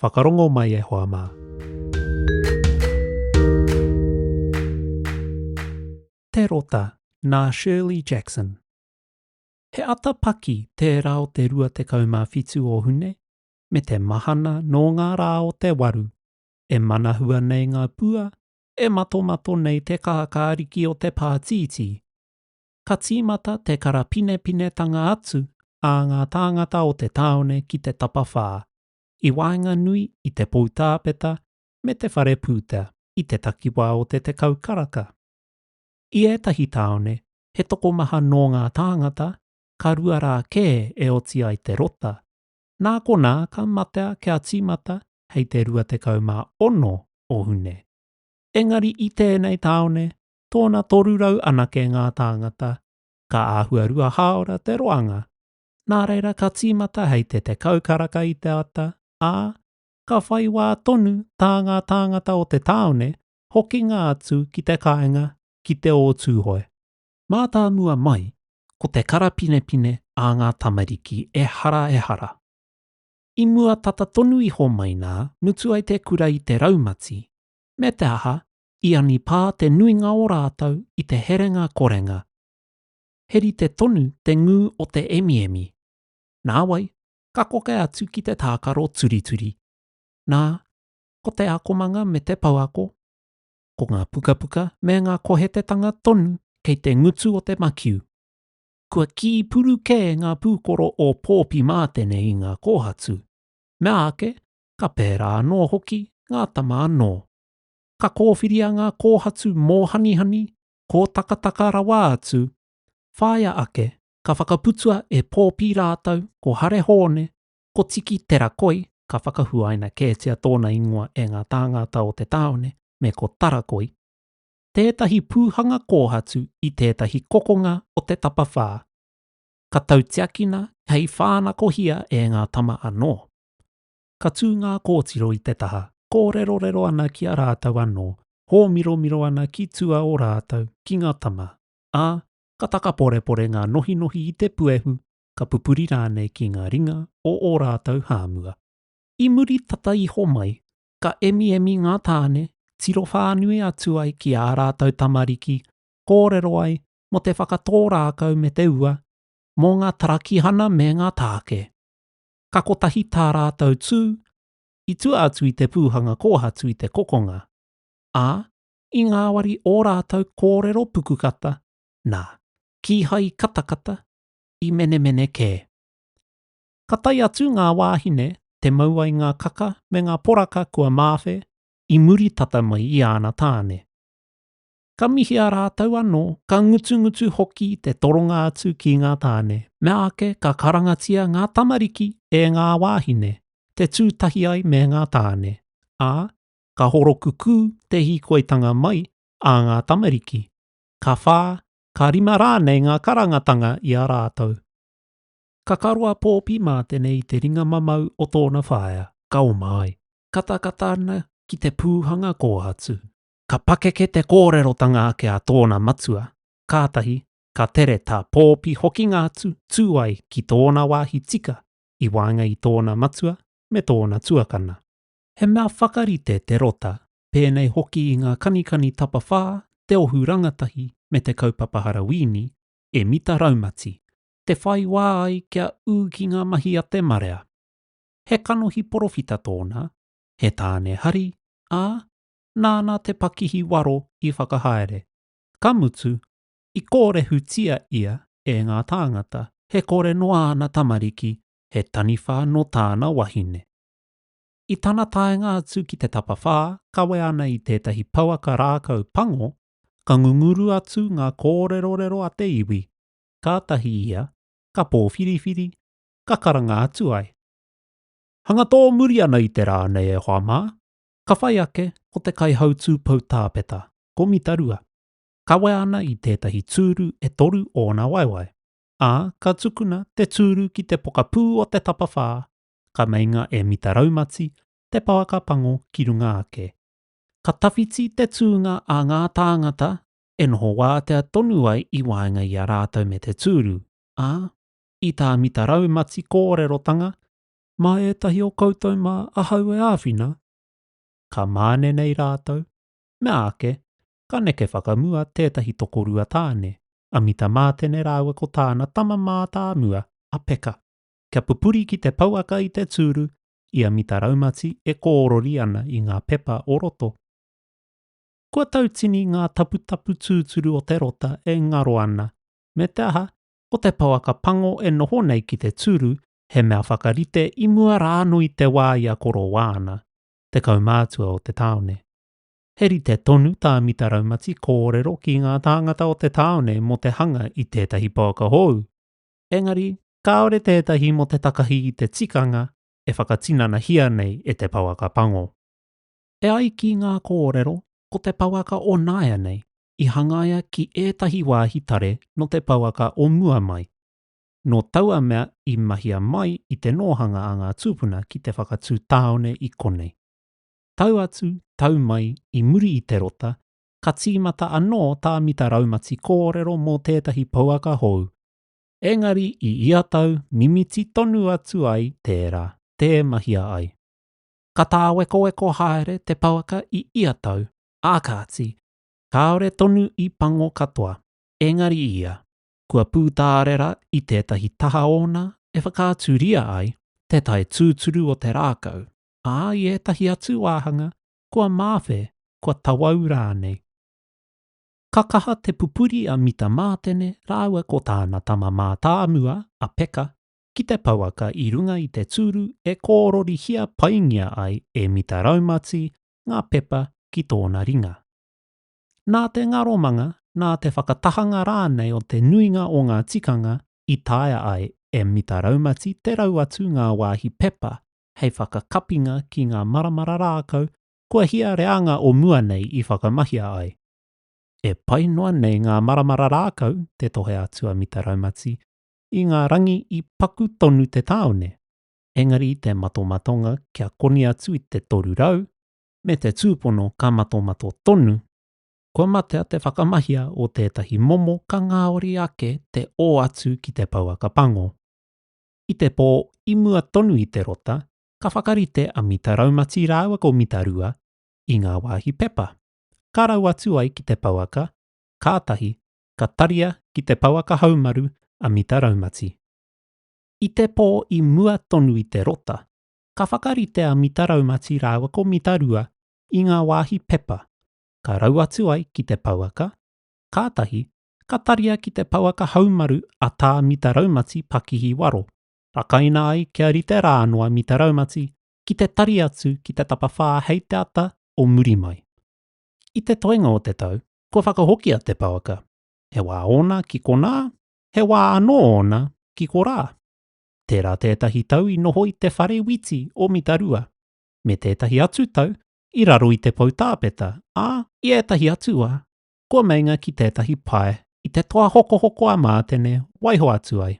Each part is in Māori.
Whakarongo mai e hoa mā. Te Rota, nā Shirley Jackson. He ata paki tērā o te 27 o Hune, me te mahana nō ngā rā o te waru. E manahua nei ngā pua, e matomato nei te kākāriki o te pātītī. Ka tīmata te karapinepinetanga atu a ngā tāngata o te tāone ki te tapawhā, i waenganui i te poutāpeta me te whare pūtea i te takiwā o te tekau karaka. I ētahi tāone, he tokomaha nō ngā tāngata, ka rua rā kē e oti ai te rota, nā konā ka matea kia tīmata hei te 26 o Hune. Engari i tēnei tāone, tōna 300 anake ngā tāngata, ka āhua rua hāora te roanga nā reira ka tīmata hei te tekau karaka i te ata, ā, ka whai wā tonu tā ngā tāngata o te tāone hokinga atu ki te kāinga ki te ō Tūhoe. Mātāmua mai, ko te karapinepine a ngā tamariki ehara ehara. I mua tata tonu iho mai nā mutu ai te kura i te raumati, me te aha, i anipā te nuinga o rātou i te herenga korenga, he rite tonu te ngū o te emiemi. Nāwai, ka koke atu ki te tākaro turituri. Nā, ko te akomanga me te pouako, ko ngā pukapuka me ngā kohetetanga tonu kei te ngutu o te makiu. Kua kī puru kē ngā pūkoro o Pōpi Mātene i ngā kōhatu, mea ake, ka pērā anō hoki ngā tama anō. Ka kōwhiria ngā kōhatu mōhanihani kōtakataka rawa atu, whāia ake ka whakaputua e Pōpi rātou ko Hare Hōne, ko Tiki Te Rakoi, ka whakahuaina kētia tōna ingoa e ngā tāngata o te tāone, me ko Tarakoi, tētahi pūhanga kōhatu i tētahi kokonga o te tapawhā, ka tautiakina hei whānakohia e ngā tama anō. Ka tū ngā kōtiro i te taha, kōrerorero ana ki a rātou anō, hōmiromiro ana ki tua o rātou, ki ngā tama, ā, ka takaporepore ngā nohinohi i te puehu, ka pupuri rānei ki ngā ringa o ō rātou hāmua. I muri tata iho mai, ka emiemi ngā tāne, tiro whānui atu ai ki ā rātou tamariki, kōrero ai mō te whakatō rākau me te ua, mō ngā tarakihana me ngā tāke. ka kotahi tā rātou tū i tua atu i te pūhanga kōhatu i te kokonga, ā, i ngāwari ō rātou kōrero pukukata, nā, kīhai katakata, i menemene kē. Ka tae atu ngā wāhine te mau ai ngā kaka me ngā poraka kua māwhe i muri tata mai i āna tāne. ka mihia rātou anō, ka ngutungutu hoki te toronga atu ki ngā tāne. Meāke ka karangatia ngā tamariki e ngā wāhine, te tū tahi ai me ngā tāne, ā, ka horokukū te hīkoitanga mai a ngā tamariki, ka whā, ka rima rānei ngā karangatanga i a rātou. Ka karoa pōpi mā tenei i te ringa mamau o tōna whaea, ka oma ai. Katakata ana ki te pūhanga kō atu. Ka pakeke te kōrerotanga ake a tōna matua, kātahi ka tere tā Pōpi hokinga atu tū ai ki tōna wāhi tika i waenga i tōna matua me tōna tuakana. He mea whakarite te rota, pēnei hoki i ngā kanikani tapawhā, te ohu rangatahi me te kaupapa harawīni, e mita raumati, te whai wā ai kia ū ki ngā mahi a te marea. He kanohi porowhita tōna, he tāne hari, ā, nāna te pakihi waro i whakahaere. Ka mutu, i kōrehutia ia e ngā tāngata he kore nō āna tamariki he taniwha nō tāna wahine. I tana taenga atu ki te tapawhā kawe ana i tētahi pouaka rākau pango, ka ngunguru atu ngā kōrerorero a te iwi, kātahi ia ka pōwhiriwhiri, ka karanga atu ai. Hanga tō muri ana i te rā nei e hoa mā, Ka whai ake, ko te kaihautū poutāpeta, ko Mitarua. Kawea ana i tētahi tūru e toru ōna waewae, ā, ka tukuna te tūru ki te pokapū o te tapawhā, ka meinga e Mitaraumati te pouaka pango ki runga ake. Ka tawhiti te tūnga a ngā tāngata e noho wātea tonu ai i waenga i a rātou me te tūru, ā, i tā Mitaraumati kōrerotanga, mā ētahi o koutou mā ahau e āwhina, ka māne nei rātou, meāke, ka neke whakamua tētahi tokorua tāne, a Mita Mātene rāua ko tāna tama mātāmua, a Peka, kia pupuri ki te pouaka i te tūru i a Mita Raumati e kōrori ana i ngā pepa o roto. Kua tautini ngā taputapu tūturu o te rota e ngaro ana, me te aha, ko te pouaka pango e noho nei ki te tūru he mea whakarite i mua rā anō i te wā i a Korowā ana, te kaumātua o te tāone. He rite tonu tā Mita Raumati kōrero ki ngā tāngata o te tāone mō te hanga i tētahi pouaka hou, engari kāore tētahi mō te takahi i te tikanga e whakatinanahia nei e te pouaka pango. E ai ki ngā kōrero, ko te pouaka o nāianei i hangaia ki ētahi wāhi tare nō te pouaka o mua mai. nō taua mea i mahia mai i te nōhanga a ngā tūpuna ki te whakatū tāone i konei. Tau atu, tau mai, i muri i te rota, ka tīmata anō tā Mita Raumati kōrero mō tētahi pouaka hou, engari i ia tau mimiti tonu atu ai tērā, tē mahia ai. Ka tāwekoweko haere te pouaka i ia tau, ā kāti, kāore tonu i pango katoa, engari ia, kua pūtārera i tētahi taha ōna e whakaaturia ai te tae tūturu o te rākau, ā, i ētahi atu wāhanga kua māwhe, kua tawau rānei. Ka kaha te pupuri a Mita Mātene rāua ko tāna tama mātāmua a Peka ki te pouaka i runga i te tūru e kōrorihia paingia ai e Mita Raumati ngā pepa ki tōna ringa. nā te ngaromanga, nā te whakatahanga rānei o te nuinga o ngā tikanga i taea ai e Mita Raumati te rau atu ngā wāhi pepa hei whakakapinga ki ngā maramara rākau kua hia reanga o mua nei i whakamahia ai. E pai noa nei ngā maramara rākau, te tohe atu a Mita Raumati, i ngā rangi i paku tonu te tāone, engari i te matomatonga kia koni atu i te 300, me te tūpono ka matomato tonu, kua matea te whakamahia o tētahi momo ka ngāori ake te ō atu ki te pouaka pango. I te pō i mua tonu i te rota, ka whakarite a Mita Raumati rāua ko Mita Rua i ngā wāhi pepa, ka rau atu ai ki te pouaka, kātahi ka taria ki te pouaka haumaru a Mita Raumati. I te pō i mua tonu i te rota, Ka whakarite a Mita Raumati rāua ko Mita Rua i ngā wāhi pepa, ka rau atu ai ki te pouaka, kātahi, ka taria ki te pouaka haumaru a Tā Mita Raumati pakihi waro, rakaina ai kia rite rā anō a Mita Raumati ki te tari atu ki te tapawhā hei te ata o muri mai. I te toenga o te tau, kua whakahokia te pouaka, he wā ōna ki konā, he wā anō ōna ki korā. Tērā tētahi tau i noho i te whare witi o Mitarua, me tētahi atu tau i raro i te poutāpeta, ā, i ētahi atu wā, kua meinga ki tētahi pae i te toa hokohoko a Mātene waiho atu ai.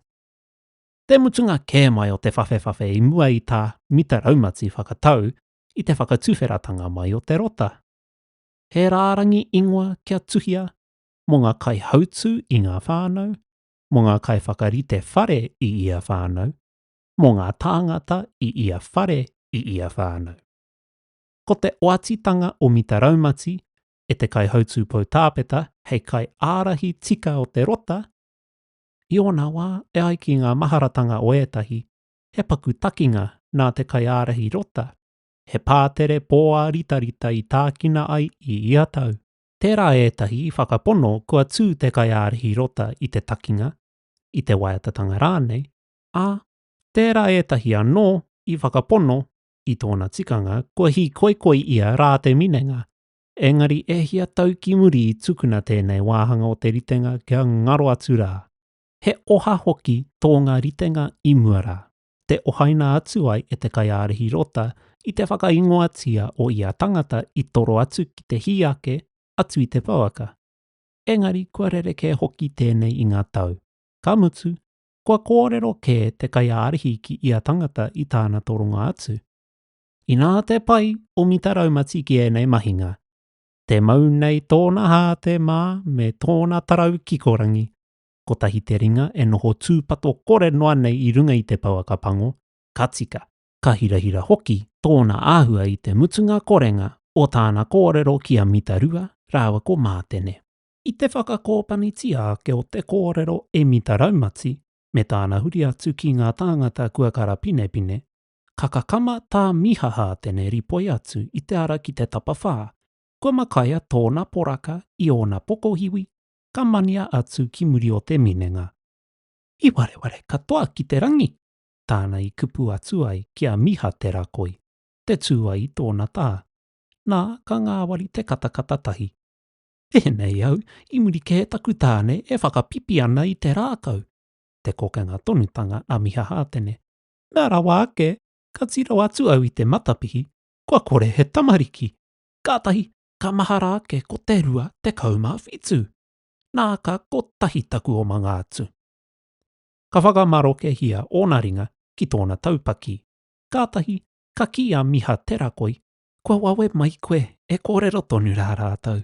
Te mutunga kē mai o te whawhewhawhe i mua i tā Mita Raumati whakatau i te whakatuwheratanga mai o te rota. He rārangi ingoa kia tuhia mō ngā kaihautū i ngā whānau, mō ngā kaiwhakarite whare i ia whānau, mō ngā tāngata i ia whare i ia whānau. Ko te oatitanga o Mita Raumati e te kaihautū poutāpeta hei kaiārahi tika o te rota, i ōna wā e ai ki ngā maharatanga o ētahi, he paku takinga nā te kaiārahi rota, he pātere pōāritarita i tākina ai i ia tau. Tērā ētahi i whakapono kua tū te kaiārahi rota i te takinga, i te waiatatanga rānei, ā, tērā ētahi anō i whakapono i tōna tikanga kua hīkoikoi ia rā te minenga, engari e hia tau ki muri i tukuna tēnei wāhanga o te ritenga kia ngaro atu rā. He oha hoki tō ngā ritenga i mua rā. te ohaina atu ai e te kaiārahi rota i te whakaingoatia o ia tangata i toro atu ki te hī ake atu i te pouaka. Engari kua rerekē hoki tēnei i ngā tau, ka mutu, kua kōrero kē te kaiārahi ki ia tangata i tāna toronga atu. Inā te pai o Mita Raumati ki ēnei mahinga, te mau nei tōna hāte mā me tōna tarau kikorangi, kotahi te ringa e noho tūpato kore noa nei i runga i te pouaka pango, ka tika. Ka hirahira hoki tōna āhua i te mutunga korenga o tāna kōrero ki a Mita Rua rāua ko Mātene. I te whakakōpanitia ake o te kōrero e Mita Raumati me tāna huri atu ki ngā tāngata kua karapinepine, ka kakama tā Miha Hātene ripoi atu i te ara ki te tapawhā, kua makaia tōna poraka i ōna pokohiwi ka mania atu ki muri o te minenga. I wareware katoa ki te rangi, tāna i kupu atu ai ki a Miha Te Rakoi, te tū ai i tōna tā, nā, ka ngāwari te katakata tahi. Tēnei au, i muri kē taku tāne e whakapipi ana i te rākau, te kokenga tonutanga a Miha Hātene. Nā rawa ake, ka tiro atu au i te matapihi, kua kore he tamariki! Kātahi, ka mahara ake ko te rua tekau mā whitu, nā ka kotahi taku omanga atu. Ka whakamarokehia ōna ringa ki tōna taupaki, kātahi ka kī a Miha Terakoi, Kua wawe mai koe e kōrero tonu rā rātou.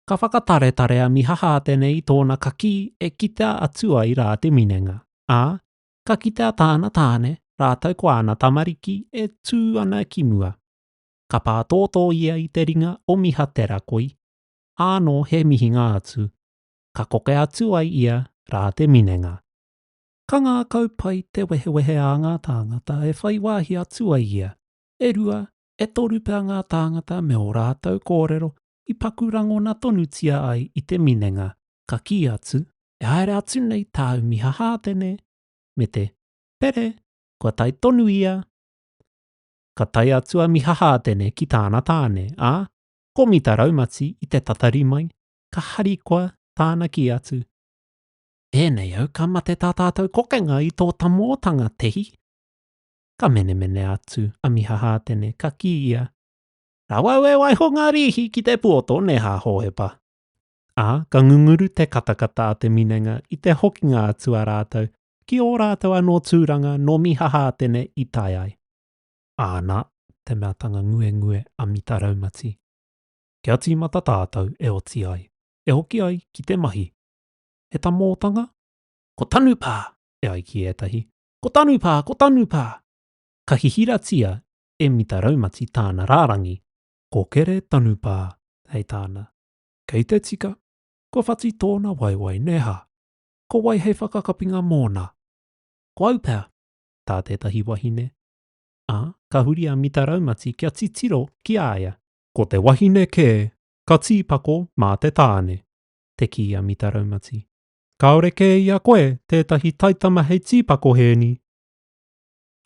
Ka whakataretare a Miha Hātene i tōna kakī e kitea atu ai rā te minenga, ā, ka kitea tāna tāne rātou ko āna tamariki e tū ana ki mua. ka pātōtō ia i te ringa o Miha Te Rakoi, ānō he mihinga atu, ka koke atu ai ia rā te minenga. Ka ngākau pai te wehewehe a ngā tāngata e whai wāhi atu ai ia, e rua, e toru pea ngā tāngata me ō rātou kōrero i paku rangona tonutia ai i te minenga, ka kī atu. E haere atu nei tāu Miha Hātene, me te, Pere, kua tae tonu ia! ka tae atu a Mihahaatene ki tāna tāne, ā, ko Mita raumati i te tatari mai, ka harikoa tāna kī atu, Tēnei au ka mate tā tātou kokenga i tō tamōtanga, te hi. Ka menemene atu a Mihahaatene, ka kī ia, Rawa au e waiho ngā rīhi ki te puoto nē hā Hōhepa. Ā, ka ngunguru te katakata a te minenga i te hokinga atu a rātou ki ō rātou anō tūranga nō Mihahātene i tae ai. Āna, te meatanga nguengue a Mita Raumati. Kia tīmata tātou e oti ai, e hoki ai ki te mahi. He tamōtanga? Ko Tanupā! e ai ki ētahi, Ko Tanupā! Ko Tanupā! Ka hihiratia e Mita Raumati tāna rārangi. Ko Kere Tanupā, hei tāna. Kei te tika, kua whati tōna waewae nē hā? Ko wai hei whakakapinga mōna? Ko au pea, tā tētahi wahine, ā, ka huri a Mita Raumati kia titiro ki a ia. Ko te wahine kē, ka tīpako mā te tāne, te kī a Mita Raumati. Kāore kē i a koe tētahi taitama hei tīpako hēni?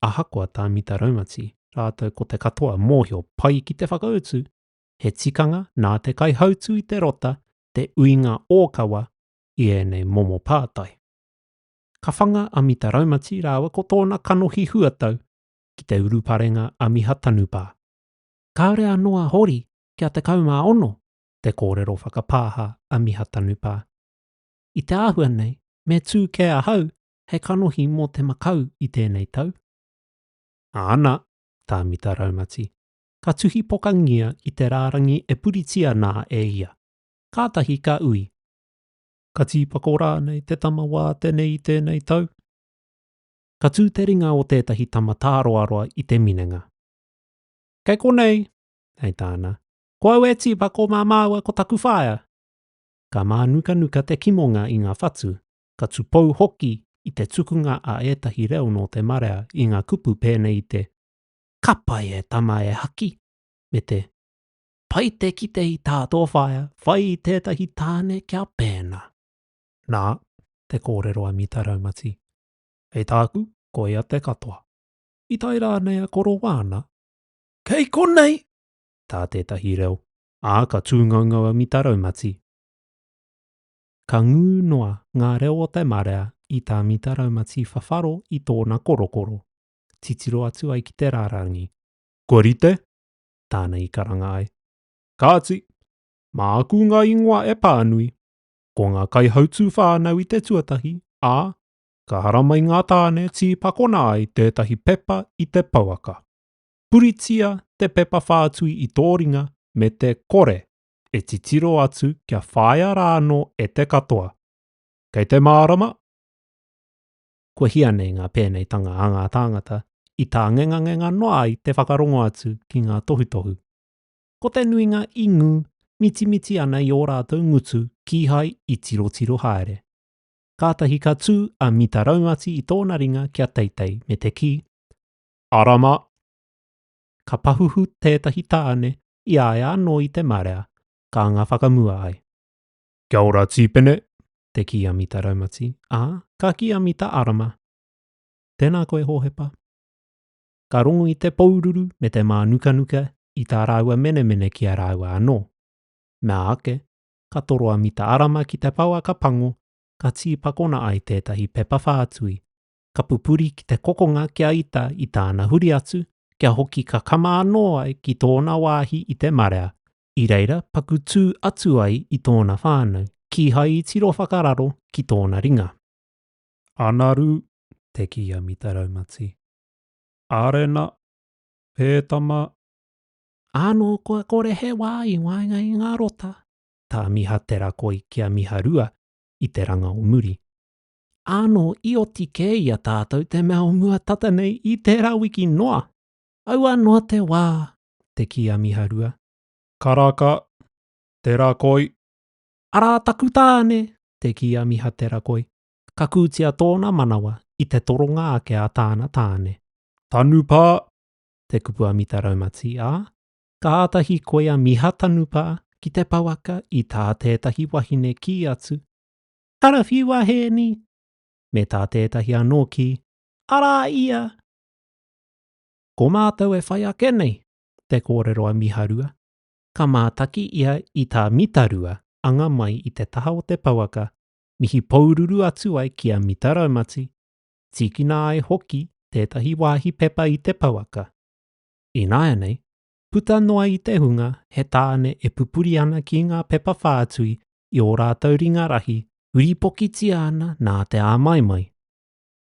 Ahakoa tā Mita Raumati rātou ko te katoa mōhio pai ki te whakautu, he tikanga nā te kaihautū i te rota te uinga ōkawa i ēnei momo pātai. Ka whanga a Mita Raumati rāua ko tōna kanohi huatau ki te uruparenga a Miha Tanupā. Kāore anō a Hori kia 16 te kōrero whakapāha a Miha Tanupā. I te āhua nei, me tū kē ahau hei kanohi mō te makau i tēnei tau? Āna, tā Mita Raumati, ka tuhi pokangia i te rārangi e puritia nā e ia. kātahi ka ui. Ka tīpako rānei te tama wā tenei i tēnei tau? Ka tū te ringa o tētahi tama tāroaroa i te minenga. Kei konei! hei tāna. Ko au e tīpako mā māua ko taku whaea! Ka mānukanuka te kimonga i ngā whatu, ka tupou hoki i te tukunga a ētahi reo nō te marea i ngā kupu pēnei i te Ka pai e tama e haki! me te Pai te kite i tā tō whaea whai i tētahi tāne kia pēnā. Nā, te kōrero a Mita Raumati. Hei tāku, koia te katoa. I tae rānei a Korowāna? Kei konei! tā tētahi reo, ā, ka tūngaungau a Mita Raumati. Ka ngū noa ngā reo o te marea i tā Mita Raumati whawharo i tōna korokoro, titiro atu ai ki te rārangi. Kua rite? tāna i karanga ai. Kāti, mā aku ngā ingoa e pānui, ko ngā kaihautū whānau i te tuatahi, ā, ka haramai ngā tāne tīpakona ai tētahi pepa i te pouaka. Puritia te pepa whātui i tō ringa me te kore e titiro atu kia whāia rānō e te katoa. Kei te mārama! kua hia nei ngā pēneitanga a ngā tāngata i tā ngengangenga noa ai te whakarongo atu ki ngā tohutohu. Ko te nuinga i ngū mitimiti ana i ō rātou ngutu kīhai i tirotiro haere. Kātahi ka tū a Mita Raumati i tōna ringa kia teitei me te kī, Ara mā! Ka pahuhu tētahi tāne i a ia anō i te marea, ka anga whakamua ai. Kia ora Tīpene. Te kī a Mita Raumati, ā, ka kī a Mita Arama, Tēnā koe Hōhepa. Ka rongu i te poururu me te mānukanuka i tā rāua menemene ki a rāua anō. Mea ake, ka toro a Mita Arama ki te pouaka pango, ka tīpakona ai tētahi pepa whātui, ka pupuri ki te kokonga kia ita i tāna huri atu, kia hoki kakama anō ai ki tōna wāhi i te marea, i reira paku tū atu ai i tōna whānau, kīhai i tiro whakararo ki tōna ringa. Anaru, te kī a Mita Raumati. Arena, Hē tama. Ānō kua kore he wā i waenga i ngā rota, tā Miha Te Rakoi ki a Miha Rua i te ranga o muri. Ānō i oti kē i a tātou te mea o mua tata nei i tērā wiki noa! Aua noa te wā te kī a Miharua. Karaka, te rakoi. Arā taku tāne, te kī a Mihaterakoi. Ka kūtia tōna manawa i te toronga ake a tāna tāne. Tanupā, te kupu a Mita Raumati, ā, ka āta hīkoi a Mihatanupā ki te pouaka i tā tētahi wahine kī atu, Karawhiu a Hēni! me tā tētahi anō kī, Arā ia! Ko mātou e whai ake nei, te kōrero a Miharua, ka mātaki ia i tā Mitarua anga mai i te taha o te pouaka mihi poururu atu ai ki a Mita Raumati, tīkina ai hoki tētahi wāhi pepa i te pouaka. Ināianei, puta noa i te hunga he tāne e pupuri ana ki ngā pepa whātui i ō rātou ringa rahi huripokitia ana nā te āmaimai.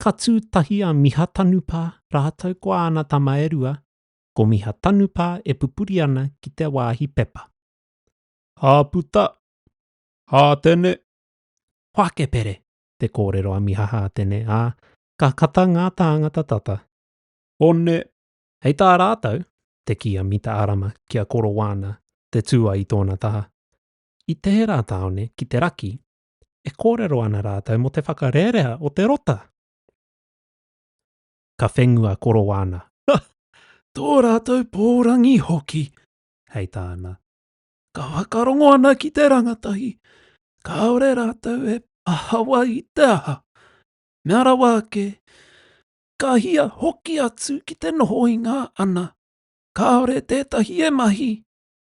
Ka tū tahi a Miha Tanupā rātou ko āna tama e rua, ko Miha Tanupā e pupuri ana ki te wāhi pepa. Hā puta! Hā tene! Whakepere! te kōrero a Miha Hātene, ā, ka kata ngā tāngata tata. One! Hei tā rātou, te kī a Mita Arama ki a Koro Wāna, te tūai i tōna taha, I Teherā tāone ki te raki, e kōrero ana rātou mō te whakarerea o te rota. Ka whengua korowana. Ha! Tō rātou pōrangi hoki! hei tāna. Ka whakarongo ana ki te rangatahi, kāore rātou e pahawa i te aha. Mea rawa ake, ka hia hoki atu ki te noho i ngā ana. Kāore tētahi e mahi,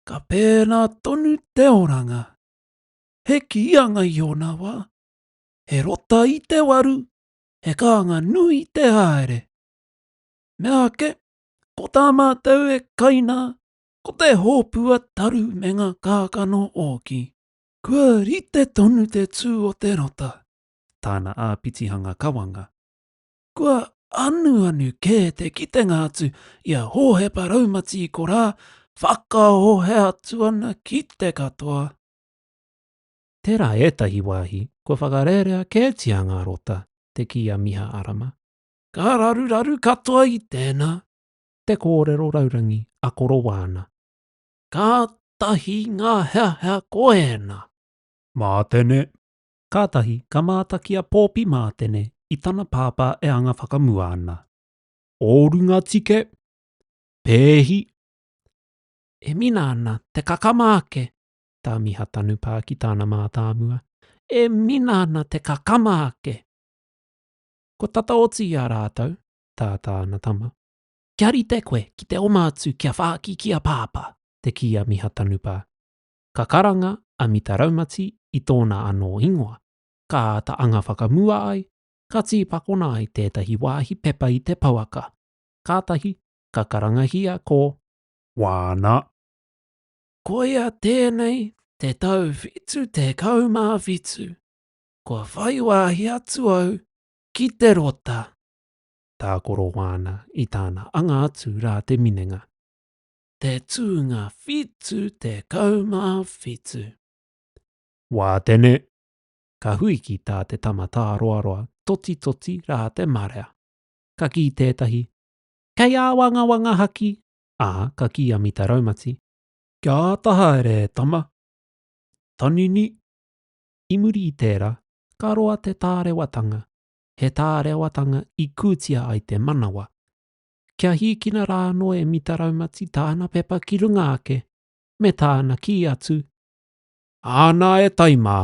ka pēnā tonu te oranga. He kīanga i ōna wā, he rota i te waru, he kānga nui i te haere. Mea ake, ko tā mātou e kaina, ko te hōpua taru me ngā kākano ōki. Kua rite tonu te tū o te rota, tāna āpitihanga kawanga. Kua anuanu kē te kitenga atu i a Hōhepa Raumati i korā, whakahohe atu ana ki te katoa. Tērā ētahi wāhi kua whakarērea kētia ngā rota, te kī a Miha Arama. Ka raruraru katoa i tēnā, te kōrero raurangi a Korowāna. Kātahi ngā heahea ko ēnā. Mātene. Kātahi ka mātaki a Pōpi Mātene i tana pāpā e anga whakamua ana. Ō runga tike. Pēhi. E mina ana te kakama ake tā Miha Tanupā ki tāna mātāmua, e mina ana te kakama ake! Kua tata oti i a rātou, tā tāna tama. Kia rite koe ki te oma atu kia whāki ki a Pāpā! te kī a Miha Tanupā. Ka karanga a Mita Raumati i tōna anō ingoa, ka āta anga whakamua ai, ka tīpakona ai tētahi wāhi pepa i te pouaka, kātahi ka karangahia ko Wāna. Koia tēnei te tau whitu tekau mā whitu kua whai wāhi atu au ki te rota. Tā Korowana i tāna anga atu rā te minenga. Te tūnga whitu tekau mā whitu. Wā tene! Ka hui ki tā te tama tāroaroa totitoti rā te marea. Ka kī tētahi, Kei āwangawanga haki ā, ka kī a Mita Raumati, Kia āta haere e tama! Tanini! I muri i tērā, ka roa te tārewatanga, he tārewatanga i kūtia ai te manawa. Kia hīkina rā anō e Mita Raumati tāna pepa ki runga ake, me tāna kī atu, Ā nā e tai mā!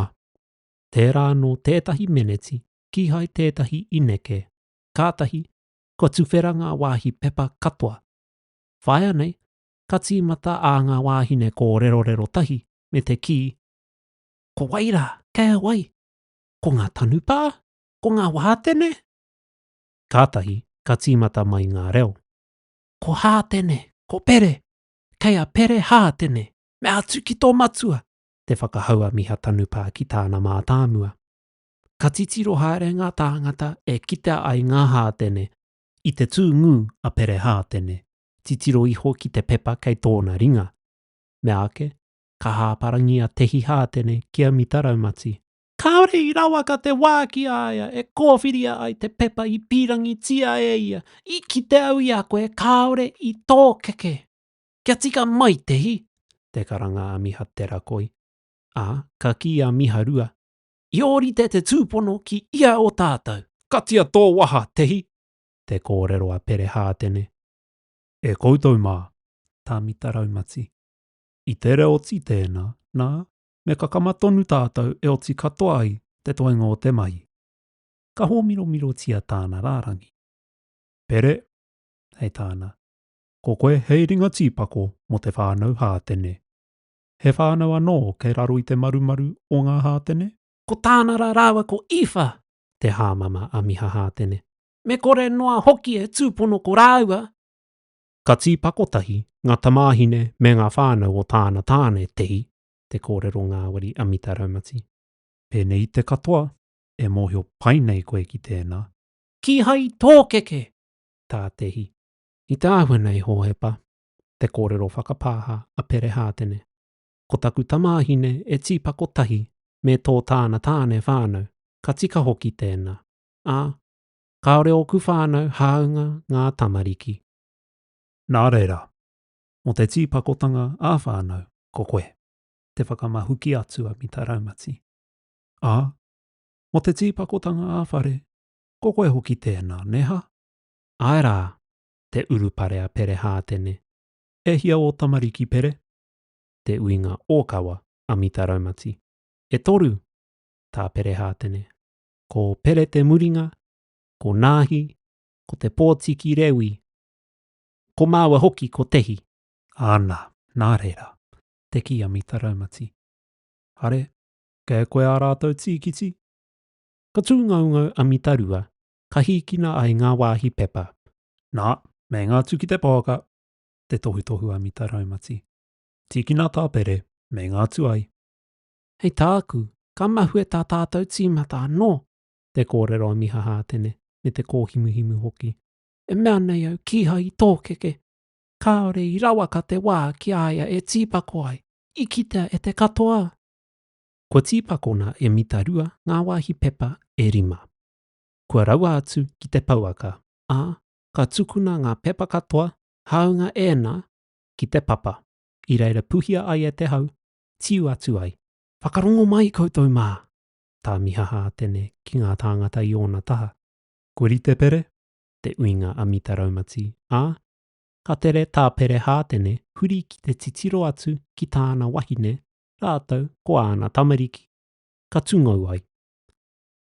Tērā anō tētahi meneti kīhai tētahi i neke, kātahi, Kua tuwhera ngā wāhi pepa katoa. Whāia nei, ka tīmata ā ngā wāhine kōrerorero tahi me te kī, Ko wai rā? Kei a wai? Ko ngā tanupā? Ko ngā wātene? Kātahi ka tīmata mai ngā reo, Ko Hātene! Ko Pere! Kei a Pere Hātene! Me atu ki tō matua! Te whakahau a Miha Tanupā ki tāna mātāmua. ka titiro haere ngā tāngata e kitea ai ngā hātene i te tū ngū a Pere Hātene, titiro iho ki te pepa kei tōna ringa. Meāke, ka hāparangi a Tehi Hātene ki a Mita Raumati. Kāore i rawaka te wā ki a ia e kōwhiria ai te pepa i pīrangitia e ia, i kite au i a koe kāore i tōkeke. Kia tika mai, Tehi! te karanga a Miha Te Rakoi, ā, ka kī a Miha Rua, I ōrite te tūpono ki ia o tātou. Katia tō waha, Tehi! Te kōrero a Pere Hātene. E koutou mā, Tāmita Raumati. I tere oti tēnā, nā, me kakama tonu tātou e oti katoa ai te toenga o te mahi. Ka hōmiromirotia tāna rārangi. Pere, hei tāna, Ko koe hei ringa tīpako mō te whānau Hātene. He whānau anō kei raro i te marumaru o ngā Hātene? Ko Tānara rāua ko Īwha te hāmama a Miha Hātene. Me kore noa hoki e tūpono ko rāua. Ka tīpako tahi ngā tamāhine me ngā whānau o tāna tāne, Tehi, te kōrero ngāwari a Mita Raumati. Pēnei i te katoa, e mōhio pai nei koe ki tēnā. Kīhai tōkeke, tā Tehi. I te āhua nei, Hōhepa, te kōrero whakapāha a Pere Hātene. Ko taku tamāhine e tīpako tahi me tō tāna tāne whānau, ka tika hoki tēnā, ā, kāore ōku whānau hāunga ngā tamariki. Nā reira, mō te tīpakotanga ā-whānau ko koe te whakamahuki atu a Mita Raumati, ā, mō te tīpakotanga ā-whare ko koe hoki tēnā, nē hā? Āe rā, te urupare a Pere Hātene. E hia ō tamariki Pere? Te uinga ōkawa a Mita Raumati. E toru! tā Pere Hātene. Ko Pere Te Muringa, ko Nāhi, ko Te Pōtiki Rewi, ko māua hoki ko Tehi. Ana, nā reira, te kī a Mita Raumati. Are, kei a koe ā rātou tīkiti? Ka tūngaungau a Mita Rua ka hīkina ai ngā wāhi pepa, nā, me ngā tū ki te pouaka, te tohutohu a Mita Raumati. Tīkina tāpere me ngā tuai. Hei tāku, ka mahue tā tātou tīmata anō! te kōrero a Miha Hātene, me te kōhimuhimu hoki. E mea nei au, kīhai i tōkeke. Kāore i rawaka te wā ki a ia e tīpako ai, i kitea e te katoa! Kua tīpakona e Mita Rua ngā wāhi pepa e rima. kua raua atu ki te pouaka, ā, ka tukuna ngā pepa katoa, hāunga ēnā, ki te papa, i reira puhia ai e te hau, tiu atu ai. Whakarongo mai koutou mā! tā Mihaha Atene ki ngā tāngata i ōna taha. Ko Ritepere te uinga a Mita Raumati, ā, ka tere tā Pere Hātene huri ki te titiro atu ki tāna wahine rātou ko āna tamariki, ka tungou ai.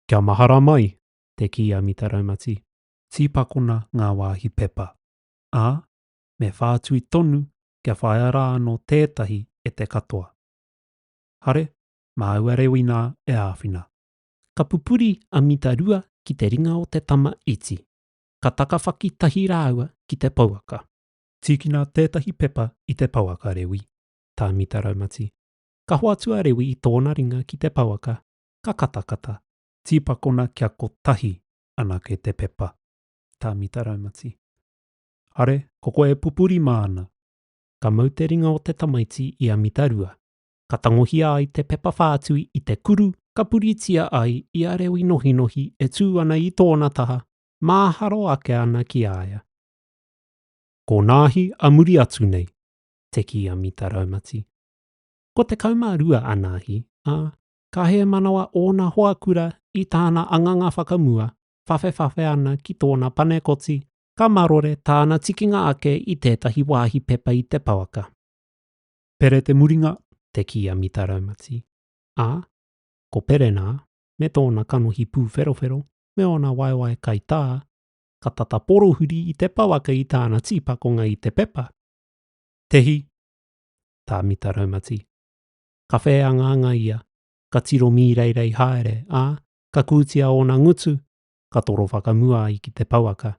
Kia mahara mai, te kī a Mita Raumati. Tīpakona ngā wāhi pepa, ā, me whātui tonu kia whāia rā anō tētahi e te katoa. Hare, māua rewi nā e āwhina. Ka pupuri a Mita Rua ki te ringa o te tama iti. Ka takawhaki tahi rāua ki te pouaka. Tīkina tētahi pepa i te pouaka, Rewi, tā Mita Raumati. Ka hoatu a Rewi i tōna ringa ki te pouaka, ka katakata, tīpakona kia kotahi anake te pepa. Tāmita Raumati. Hare, ko koe e pupuri māna. Ka mau te ringa o te tamaiti i a Mita Rua. Ka tangohia ai te pepa whātui i te kuru ka puritia ai i a reo inohinohi e tū ana i tōna taha, māharo ake ana ki a ia. Ko Nāhi a muri atu nei, te kī a Mita Raumati. Ko 12 a Nāhi, ā, ka hēmanawa ōna hoa kura i tāna anganga whakamua, whawhewhawhe ana ki tōna panekoti, ka marore tāna tikinga ake i tētahi wāhi pepa i te pouaka. Pere Te Muringa te kī a Mita Raumati, ā, ko Pere nā, me tōna kanohi pūwherowhero me ōna waewae kaitā, ka tata porohuri i te pouaka i tāna tīpakonga i te pepa. Tehi, tā Mita Raumati, ka whēangaanga ia, ka tiro mīreirei haere, ā, ka kūtia ōna ngutu, ka toro whakamua ai ki te pouaka,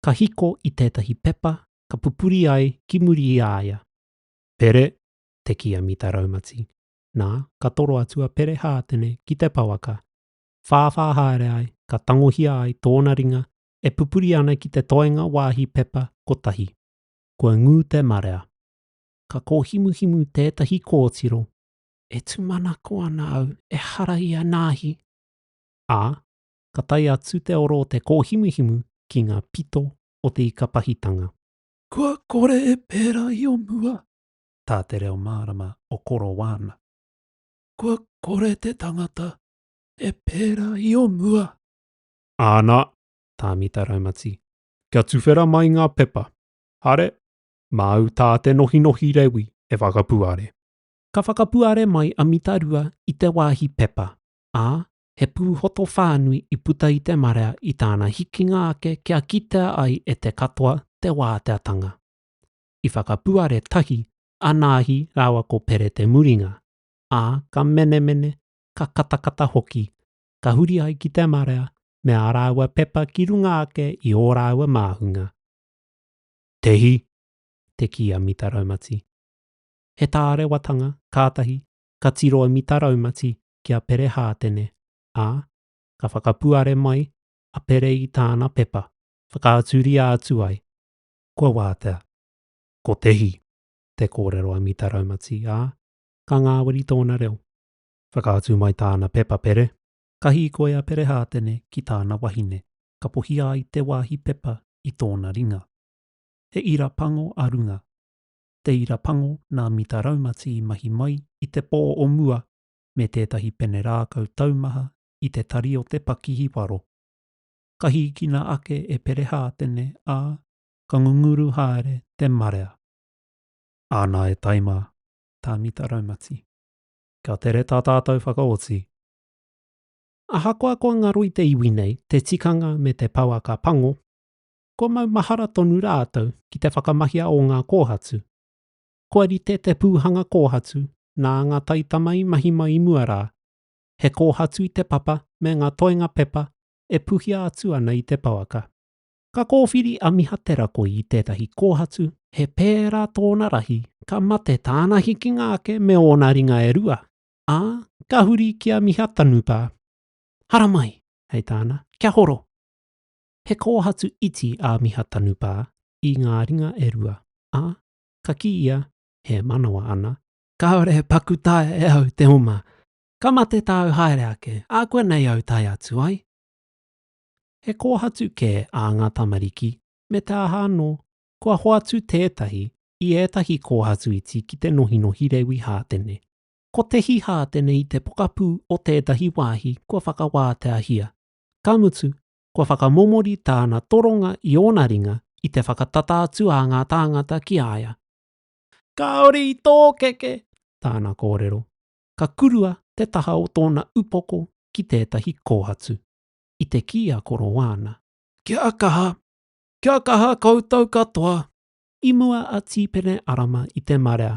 ka hiko i tētahi pepa ka pupuri ai ki muri i a ia. Pere, te kīamita raumati. Nā, ka toro atu a Pere Hātene ki te pouaka. Whāwhā haere ai, ka tangohia ai tōna ringa e pupuri ana ki te toenga wāhi pepa kotahi. Kua ngū te marea. ka kōhimuhimu tētahi kōtiro. E tūmanako ana au, ehara i a Nāhi! Ā, ka tae atu te oro o te kōhimuhimu ki ngā pito o te ika pahitanga. Kua kore e pērā i o mua, tā te reo mārama o Korowāna. Kua kore te tangata e pērā i o mua. Āna, tā Mita Raumati. Kia tuwhera mai ngā pepa. Hare, māu tā te nohinohi rewi e whakapuare. Ka whakapuare mai a Mitarua i te wāhi pepa, ā, he pūhoto whānui i puta i te marea i tāna hikinga ake kia kitea ai e te katoa te wāteatanga. I whakapuare tahi a Nāhi rāua ko Pere Te Muringa, ā, ka menemene, ka katakata hoki, ka huri ai ki te marea me ā rāua pepa ki runga ake i ō rāua māhunga. Te hi, te ki a Mita Raumati. He tārewatanga kātahi ka tiro a Mita Raumati ki a Pere Hātene, ā, ka whakapuare mai a Pere i tāna pepa, whakaaturia atu ai, kua wātea. Ko te hi, te kōrero a Mita Raumati, ā, ka ngāwari tōna reo. Whakaatu mai tāna pepa Pere. Ka hīkoi a Pere Hātene ki tāna wahine, kapohia ai te wāhi pepa i tōna ringa. He ira pango a runga. Te ira pango nā Mita Raumati i mahi mai i te pō o mua me tētahi pene rākau taumaha i te tari o te pakihi waro. Ka hīkina ake e Perehātene, ā, ka ngunguru haere te marea. Āna e tae mā, tā Mita Raumati. Kia tere tā tātou whakaoti. Ahakoa kua ngaro i te iwi nei te tikanga me te pouaka pango, kua maumahara tonu rātou ki te whakamahia o ngā kōhatu. Kua rite te pūhanga kōhatu nā ngā taitama i mahi mai i mua rā, he kōhatu i te papa me ngā toenga pepa e puhia atu ana i te pouaka. Ka kōwhiri a Miha Te Rakoi i tētahi kōhatu, he pērā tōna rahi, ka mate tāna hikinga ake me ōna ringa e rua, ā, ka huri ki a Mihatanupa. Haramai! hei tāna, kia horo! He kōhatu iti a Mihatanupa i ngā ringa e rua, ā, ka kī ia, e manawa ana, Kāore he paku taea e au te oma, ka mate tāu haere ake, ākuanei au tae atu ai. He kōhatu kē ā ngā tamariki, me te aha anō, kua hoatu tētahi i ētahi kōhatu iti ki te nohinohi rewi hātene, Ko Te Hihā tenei te pokapū o tētahi wāhi kua whakawāteahia. Ka mutu, kua whakamomori tāna toronga i ōna ringa i te whakatata atu a ngā tāngata ki a ia. Kāore i tōkeke! tāna kōrero. Ka kurua te taha o tōna upoko ki tētahi kōhatu. I te kī a Koroana. Kia kaha! Kia kaha koutou katoa! I mua a Tīpene Arama i te marea,